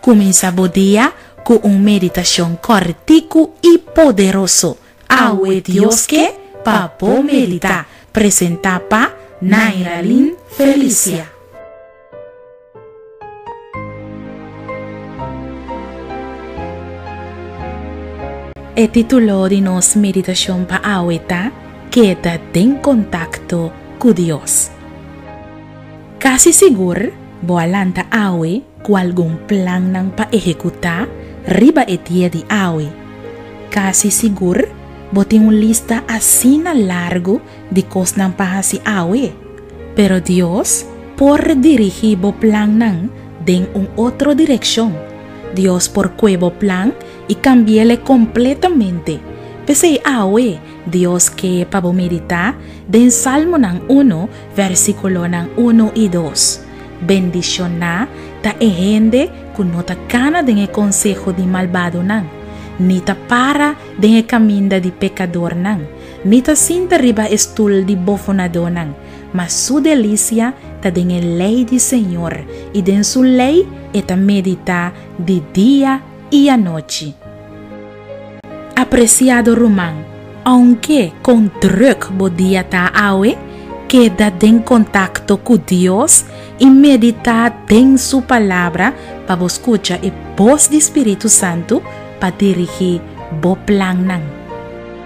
Cuminsa bo dia cu un meditacion corticu y poderoso Awe Dios Ke pa Bo Medita! presenta pa Naira Lyn Felicia. E titulo di nos meditashon pa awe ta Keda den kontakto ku Dios. Kasi sigur bo a lanta awe ku algun plannan pa ehekutá riba e dia di awe. Kasi sigur bo tin un lista asina largu di kosnan pa hasi awe, pero Dios por dirigí bo plannan den un otro direkshon. Dios por kue bo plan i kambi'El kompletamente. P'esei awe Dios ke pa bo meditá den Salmonan unu, vèrsikulonan unu i dos. Bendishon'A ta e hende ku no ta kana den e konseho di malbadonan, ni ta para den e kaminda di pekadornan. Mi ta sinta riba e stul di bofonadonan, ma su delicia ta den e ley di Señor, i den su ley e ta meditá di dia i anochi. Apreciado ruman, aunke kon druk bo dia ta awe, keda den contacto cu Dios i meditá den su Palabra pa bo scucha e bos di Spiritu Santu pa dirigí bo plannan.